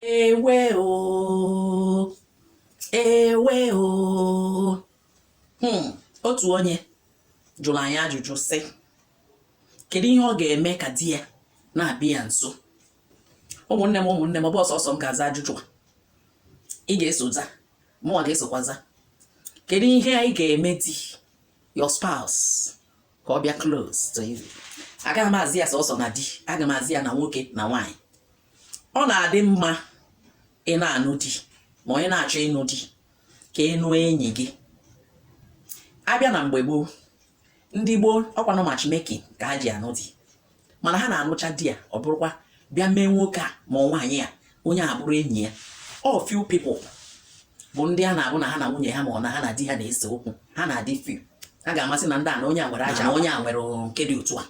ewe o ewe o hmm, otu onye jụrụ anyị ajụjụ sị kedu ihe ọ ga-eme ka di ya na-abịa ya nso ụmụnne m ụmụnne m ọ bụrọ sọsọ m ga-aza ajụjụ a ị ga-eso za mụnwa ga-esokwa za kedu ihe anyị ga-eme di your spouse ka ọ bịa close to you agaghị m aza ya sọsọ na di aga m aza ya na nwoke na nwaanyị ọ na-adị mma ị na-anụ di ma ọ ị na-achọ ịnụ di ka ị nụọ enyi gị a bịa na mgbe gboo ndị gboo ọ kwanụ matchmaking ka ha ji anụ di mana ha na-anụcha di ya ọ bụrụkwa bịa mee nwoke a ma ọ nwaanyị a onye a bụrụ enyi ya ọ few people bụ ndị a na-abụ na ha na nwunye ha ma ọ na ha na di ha na-ese okwu ha na-adị few ha ga-ama sị na ndị a na onye a nwere aja onye a nwere nke dị otu a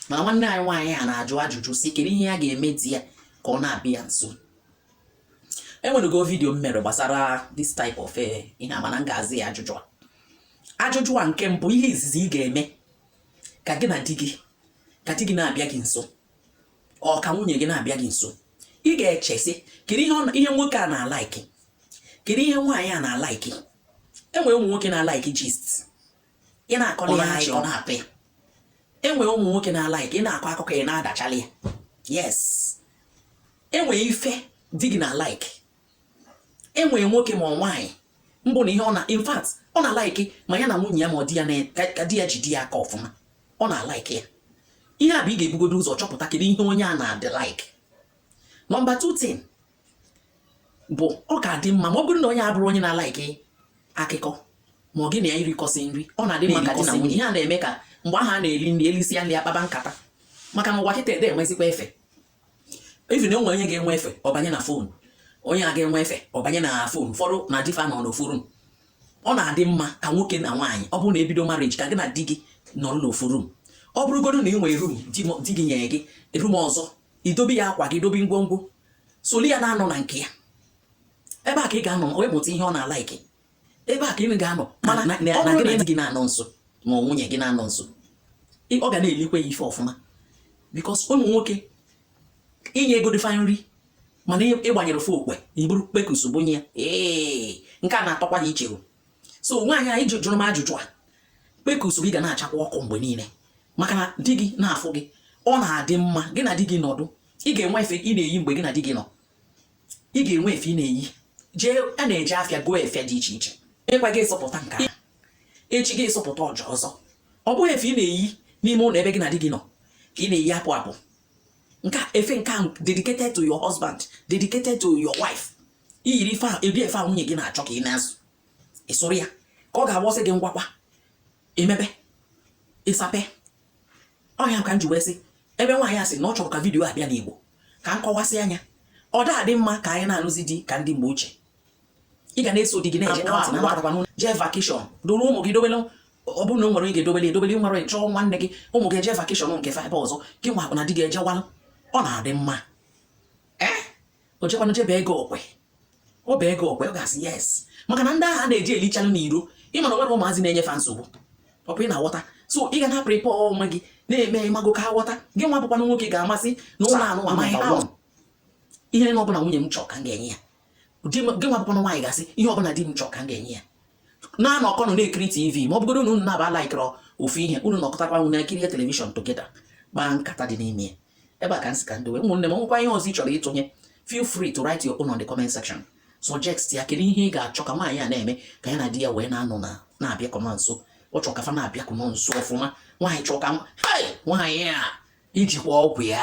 mana nwanne anyị nwaanyị a na-ajụ ajụjụ sị kedu ihe ya ga-eme di ya ka ọ na-abịa nso e nwerego video m mere gbasara this type of eh, ihe a mana m ga-aza ya ajụjụ a ajụjụ a nke mbụ ihe izizi ị ga-eme ka gị na di gị ka di gị na-abịa gị nso or ka nwunye gị na-abịa gị nso ị ga-eche sị kedu ihe nwoke a na-alike kedu ihe nwaanyị a na-alike e nwere ụmụ nwoke na-alike gist ị na-akọrọ ya achị ọ na-atọ ya e nwere ụmụ nwoke na-alike ị na-akọ akụkọ ị na-agachalị ya yes e nwee ife di gị na-alike e nwee nwoke ma ọ nwaanyị ọ bụ na ihe ọ na in fact ọ na-alike ma ya na nwunye ya ma ọ di ya ka di ya jide ya aka ọfụma ọ na-alike ya ihe a bụ ị ga-ebugodo ụzọ chọpụta kedu ihe onye a na-adị like number 2 thing bụ ọ ga-adị mma ma ọ bụrụ na onye a bụrụ onye na-alike akụkọ ma gị na ya rikọsịa nri ọ na-adị mma ka di na nwunye ihe a na-eme ka mgbe ahụ a na-eri nri e lisia nri a kpaba nkata maka na ụwa kịta adị enwezikwa efe even e nwee onye ga-enwe efe ọ banye na phone onye a ga-enwe efe ọ banye na phone ụfọdụ na di fa nọ n'ofu room ọ na-adị mma ka nwoke na nwaanyị ọ bụrụ na e bido marriage ka gị na di gị nọrọ n'ofu room ọ bụrụgodo na ị nwere room di gị nyere gị room ọzọ i dobe ya akwa gị dobe ngwongwo solu ya na-anọ na nke ya ebe a ka ị ga-anọ wee mụta ihe ọ na-alike ebe a ka ị ga-anọ mana na gị na gị na-anọ nso ma nwunye gị na-anọ nso ọ ga na-elikwa ya ife ọfụma because ụmụ nwoke i nyegodị fa nri mana ị gbanyere ofe okwe i buru kpekus bunye ya ee nke a na-atọkwa ya iche so nwaanyị anyị jụrụ m ajụjụ a kpekus gị ga na-achakwa ọkụ mgbe niile maka na di gị na-afụ gị ọ na-adị mma gị na di gị nọdụ ị ga-enwe efe ị na-eyi mgbe gị na di gị nọ ị ga-enwe efe ị na-eyi jee a na-eje afịa gọọ efe dị iche iche ịkwa gị ịsọpụta nke a echi gị ịsọpụta ọzọ ọ bụghị efe ị na-eyi n'ime ụlọ ebe gị na di gị nọ ka ị na-eyi apụ apụ nwee efe nke a dedicated to your husband dedicated to your wife i yiri efe a eri efe a nwunye gị na-achọ ka ị na-azụ ịsụrụ ya ka ọ ga-agbọsị gị ngwakwa emebe ịsape ọ ya ka m ji wee sị ebe nwaanyị a sị na ọ chọrọ ka video a bịa n'Igbo ka m kọwasịa ya ọ da adị mma ka anyị na-alụzi di ka ndị mgbe ochie ị ga na-eso di gị na-eje jee vacation duru ụmụ gị dobelụ ọ bụrụ na o nwere ị ga-edobeli edobeli nwere chọọ nwanne gị ụmụ gị eje vacation nke fa ebe ọzọ gị nwa kwa na di gị ejewalụ ọ na-adị mma o jekwanụ jebe ego kwe ọ bụ ego kwe ọ ga-asị yes maka na ndị ahụ na-eje elichanụ n'iro ịmana nwere ụmụazị na-enye fa nsogbu ọ bụ ị na-aghọta so ị ga na-aprepare onwe gị na-eme ịmago ka aghọta gị nwa bụkwanụ nwoke ga-amasị na ụlọ anụ amaghị ahụ ihe ọbụla nwunye m chọọ ka m ga-enye ya gị nwa bụkwanụ nwaanyị ga-asị ihe ọbụla di m chọọ ka m ga-enye ya na-anọkọnụ na-ekiri tv ma ọ bụgoro na unu naabọ laikịrọ ofu ihe unu nọkọtakwa ọnụ kirie television together kpaa nkata dị n'ime ya ebe a ka m sị ka m dowe ụmụnne m nwekwa ihe ọzọ ị chọrọ ịtụnye feel free to write your own on the comment section suggest ya kedu ihe ị ga-achọ ka nwaanyị a na-eme ka ya na di ya wee na-anọ na na-abịakọ na nso ọ chọrọ ka fa na-abịakọ na nso ọfụma anyị chọrọ ka nwaanyị a jikwa ọgwụ ya